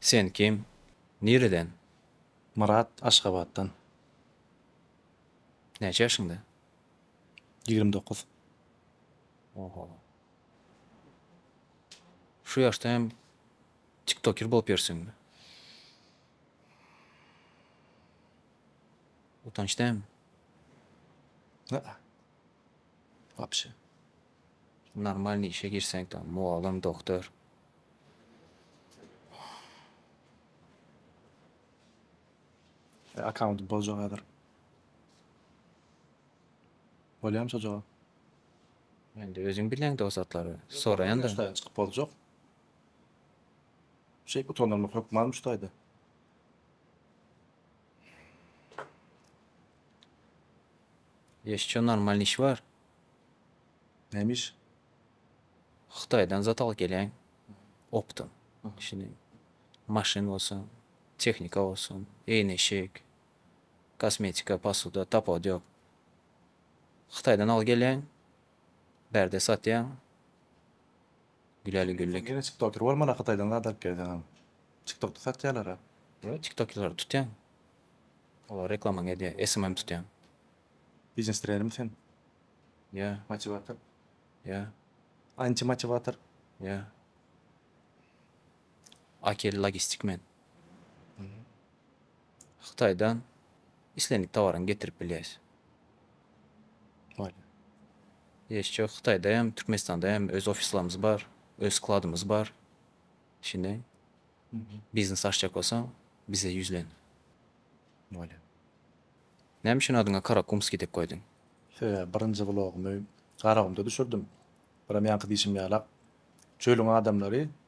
Sen kim? Nireden? Myrat, Aşgabatdan. Näçe ýaşyňda? Ýigrimi dokuz. Oho. Şu ýaşda hem tiktoker bolup ýörseň. Utanç dämi? Aa. Wapşe. Normalny işe girseň tam mugallym, doktor. Akkaunty boljak häzir. Bolýamy şo jogap? Indi özüň bileň dosatlary soraýanda. Ýok daýan çykyp boljak. Şeýp utandyrmak hökmanmyş daýda. Ýeşçe normalny iş bar. Näme iş? Hytaýdan zat alyp gelýän optym. Şini maşyn bolsun, tehnika bolsun, eýneşik, kosmetika, posuda tapawudy ýok. Hytaýdan al gelýäň, bärde satýaň. Güleli güllik. Sen ýene çiktoker bolmana hytaýdan zat alyp gelseňem. Çiktokda satýalara. Ýok çiktokerleri tutýaň. Olara reklamaňy edýäň, SMM tutýaň. Biznes trenermi sen? Ýa. Motiwator? Ýa. Antimotiwator? Ýa. Akil logistik men. Hytaýdan islendik tawaryňy getirip bilýäs. Bolýar. Ýeşçe Hytaýda hem, Türkmenistanda hem öz ofislerimiz bar, öz skladymyz bar. Şindi biznes açjak bolsaň, bize ýüzlen. Bolýar. Näme üçin adyňa Karakumskiý diýip goýduň? Sebäbi birinji blogumy Garagumda düşürdim. Buram ýaňky diýşim ýalak, çölüň adamlary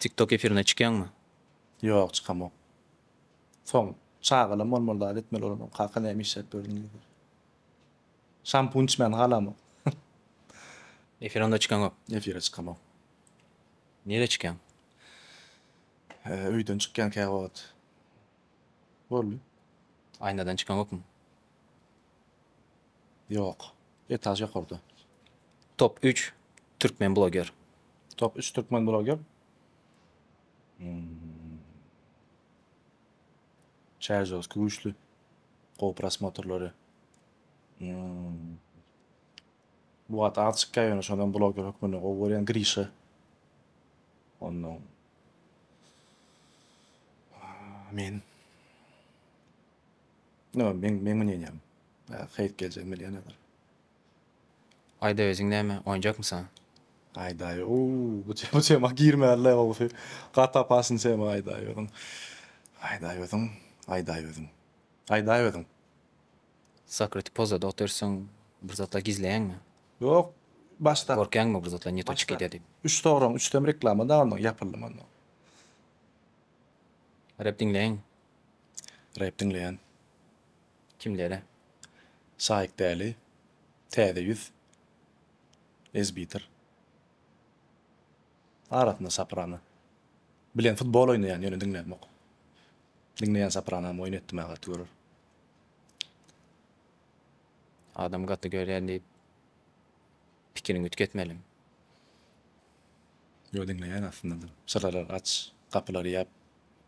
Tiktok efirine çykýaňmy? Ýok çykamok. Soň çagalam bolmaly dal etmeli bolamok kaka näme işläp ýördüň diýdiler. Şampun içmän halamok. Efire onda çykaňok. Efire çykamok. Nirä çykýaň? Öýden çykýan käwagt. Boldy. Aýnadan çykaňokmy? Ýok. Etaž ýokarda. Top üç türkmen bloger. Top üç türkmen bloger. Hmm. Çerjowskiý güýçli. Gowy prosmotrlary. Hmm. Bu wagt az çykýar ýöne şondan bloger hökmünde gowy görýän Grişa. Ondan men No meň meň ynanýan hyt geljegim bilýän hazir. Aýda özüň näme oýnjakmysa. Aýdaý oow bu bu tema girmänle gowusy gaty opasny tema aýdaý özüň aýdaý özüň aýdaý özüň aýdaý özüň. Sakriti pozada otyrsyň bir zatlar gizleýäňmi? Ýok başda. Gorkýaňmy bir zatlar neto çykyy dä diýip. Üç soragyň üçüsem reklama da onnoň ýapyldy monnoň. Rep diňleýin Rep diňleýän kimlere Saýk Däli, Täze ýüz, Ezbitir, arasynda Soprano, bilen futbol oýnaýan ýöne diňlämok. Diňleýän Sopranam oýun etdimä gaty görer. Adam gaty görýän diýip pikiriňi üýtgetmeli. Ýok diňleýän aslynda syralary aç gapylary ýap.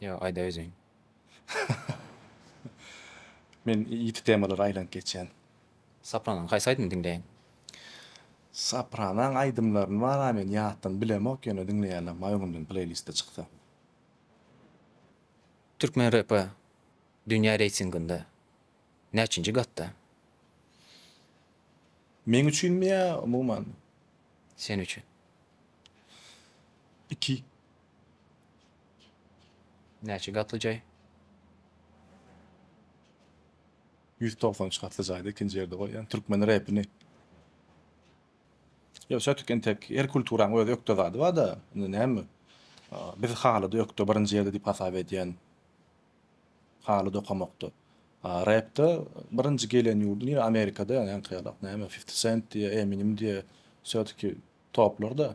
Ýa aýda öziň. Men ýiti temalara aýlanyp geçýän. Saprananyň haýsy aýdymyny diňleýin? Saprananyň aýdymlaryny wara men ýatdan bilemok ýöne diňleýäler maý öňümden pleýlistde çyksa. Türkmen repi dünýä reýtinginde näçinji gatda? Meň üçinmi ýa umuman? Sen üçin. Iki. Näçe gatly jaý? Ýüz togsan üç gatly jaýda ikinji ýerde goýýan türkmen repini. Ýok sötik entek her kulturaň öz ökde zady barda indi näme biz halyda ökde birinji ýerde diýip hasap edýän haly dokamakda repde birinji gelen ýurdy nire amerikada ýa ýaňky ýalak näme fifti sent diýe eminim diýe sötiki toplarda.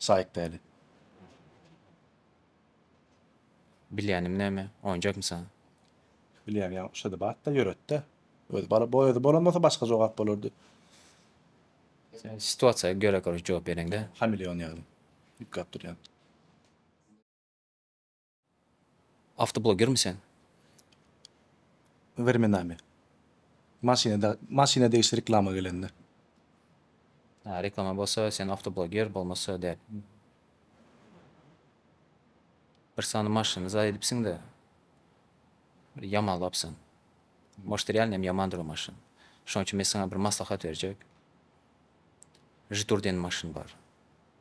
Saýyk däli. Bilýänim näme, oýunjakmy saňa? Bilýän ýaly şo-da bat-da, ýöret-de. Özi bala boý özi bolan bolsa başga jogap bolardy. Sen situasiýa göre koreş jogap bereňdä. Hameleon ýaly. Ýüklap durýan. Awtoblogermi sen? Wremenami. Maşyna maşyna degişli reklama gelende. Hä reklama bolsa sen awtobloger bolmasa däl. Bir sany maşyny zaý edipsiňdä. Bir ýamanlapsyň. Может realno hem ýamandyr o maşyn. Şoň üçin men saňa bir maslahat berjek. Žiturdeniň maşyny bar.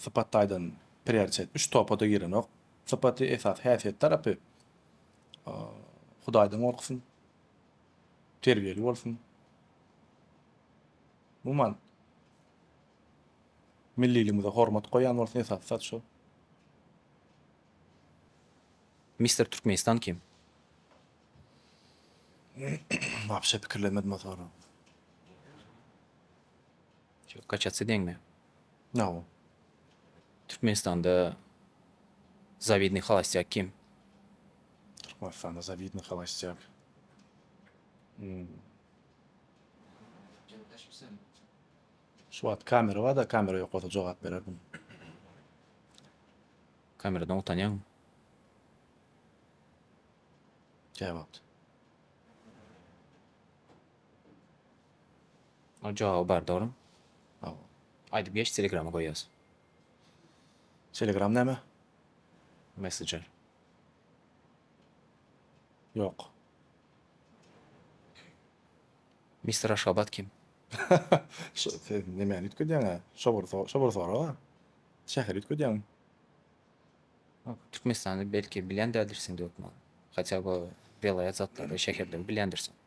Sypat taýdan prioritet üç topa-da girenok. Sypaty, esasy häsiýet tarapy Hudaýdan gorksyn, terbiýeli bolsun. Umuman, milliligimize hormat goýan bolsun, esasy zat şo. Mister Türkmenistan kim? Wapşe pikirlenmedim o soragy. Şu kaçatsi deňmi? Nao. Türkmenistanda zawidnyý holostýak kim? Türkmenistanda zawidnyý holostýak. Şu wagt kamera barda kamera ýok bolsa jogap bererdim. Kameradan utanýaňmy? Käwagt. Ol jogaby bar dogrymy. Hawa. Aýdyp geç telegrama goýýas. Telegram näme? Messenger. Ýok. Mister Aşgabat kim? Şu siz nemäni üýtgedýäňä? Şobur so şobur soraga. Şäheri üýtgedýäň. Türkmenistany belki bilýän däldirsiň dökman. Hatýa bu welaýat zatlary, şäherleri bilýändirsiň.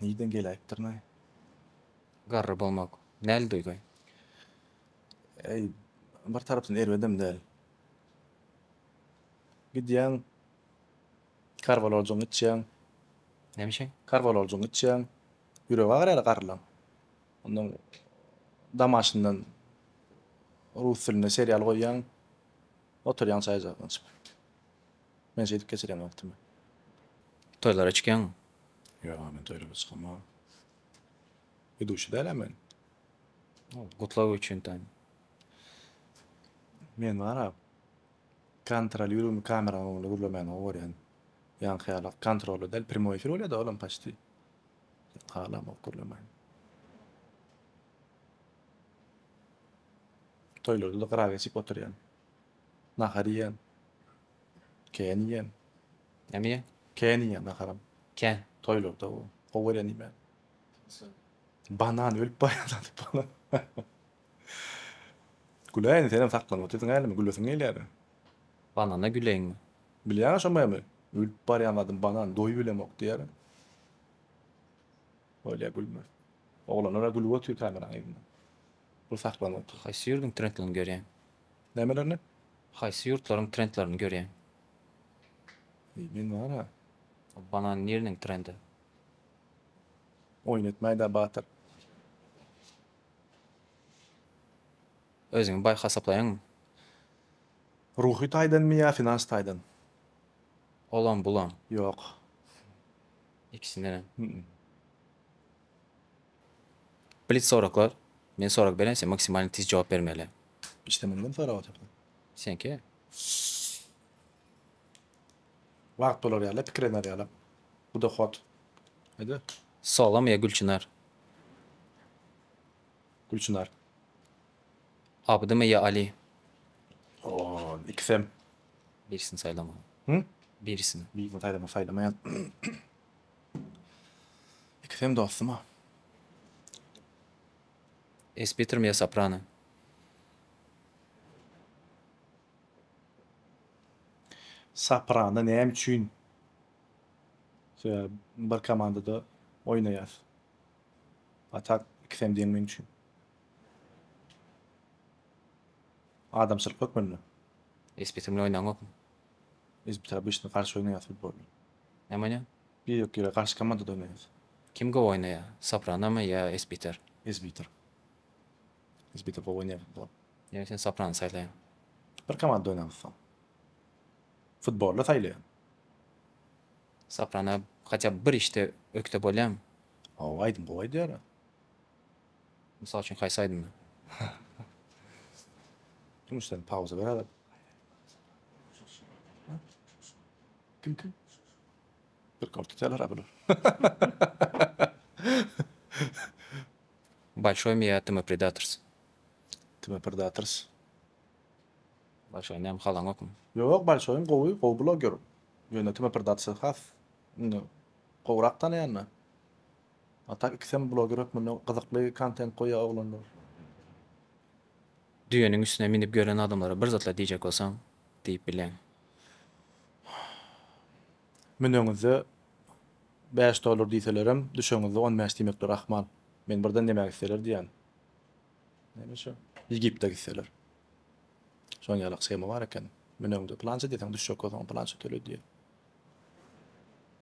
Nirden geläýipdirinaý? Garry bolmak näl duýgy? Äý, bir tarapdan erbedem däl. Gidýäň, karwaloljygyňy içýäň. Näme üçin? Karwaloljygyňy içýäň. Ýüregi agyr ýaly garrylaň. Onnoň damaşyndan rus dilinde serial goýýaň. Oturýaň çaý jagyňy içip. Men şeýdip geçirýän wagtymy. Toýlara çykýaňmy? Ýogha men toýlara çykamok. Iduşi dälä men. Gutlag üçin taýyn. Men bara kontrolýurumy kameraň öňünde gürlemäni gowy görýän. Ýaňky ýaly kontrolly däl primoý efir bolýada olam paçti. Halamok gürlemäni. Toýlarda-da gyra geçip oturýan. Nahar iýen. Kän iýen. Näme iýen? Kän iýen naharam. Kän. Toýlarda bu. Gowy görýän iýmäni. Banan ölüp barýan diýip banan. Güle indi senem saklanyp otyrsyň hälimi gülesiň gelýär. Banana güleýinmi? Bilýäň aşamaýamy? Ölüp barýan zadym banan doýubilemok diýýär. Bolýa gülme. Oglanlar-a gülüp otyr kameraň yzynda. Bu saklanyp otyr. Haýsy ýurduň trendlerini görýäň? Nämelerni? Haýsy ýurtlaryň trendlerini görýäň? Eý men wara. Ol banan niriniň trendi? Oýun etmäýdä batyr. Özüňi baý hasaplaýaňmy? Ruhy taýdanmy ýa finans taýdan? Olam bulam. Ýok. Ikisindenem. Hü-ü. Blitz soraglar, men sorag berýän sen maksimalny tiz jogap bermeli. Işde muny kim sorap oturdy? Seňki. Wagt bolar ýaly, pikir eder ýaly. Bu dohot. Aýda. Salam ýa Gülçynar. Gülçynar. Abdymy ýa Ali. Oo, ikisem. Birisini saýlama. Hü? Birisini. Birisini saýlama, saýlamaýan. Ikisem dostum-a. Es Peter Mia Soprano. Soprano näme üçin bir komandada oýnaýar? A tak ikisem deň meň üçin. Adamçylyk hökmünde. Es Peter bilen oýnanyňokmy? Es Peter obyçny garşy oýnaýas futbol. Näme oýnaýaň? Ýok ýere gaşka modada oýnaýas. Kim gowy oýnaýar? Sopranamy ýa esbiter? Esbiter. Esbiter gowy oýnaýar bu. Ýöne sen soprany saýlaýaň. Bir komandada oýnarys soň. Futboly saýlaýan. Soprana hatýa by bir işde ökde bolýamy? Hawa aýdym gowy aýdýara. Mysal üçin haýsy aýdymy? Dumuş sen pauza ber aýdym. Kimki? Bir gol tutýalar-a bular. Bolşoý mi ýa Tmpredators? Tmpredators. Bolşoý näme halaňokmy? Ýok, Bolşoýyň gowy, gowy bloger. Ýöne Tmprdators has indi gowrak tanaýan-da. A tak ikisem bloger hökmünde gyzykly kontent goýýar oglanlar. Düýeniň üstüne münüp ýören adamlara bir zatlar diýjek bolsaň, diýip bilýän. Müneňizde bäş dollar diýselerem, düşeňizde on bäş diýmekleri ahmal. Men birden näme gitseler diýýän. Näme şu? Ýigipde gitseler. Şoň ýaly schema bar eken. Müneňde plança diýseň düşjek bolsaň plança töle diýýär.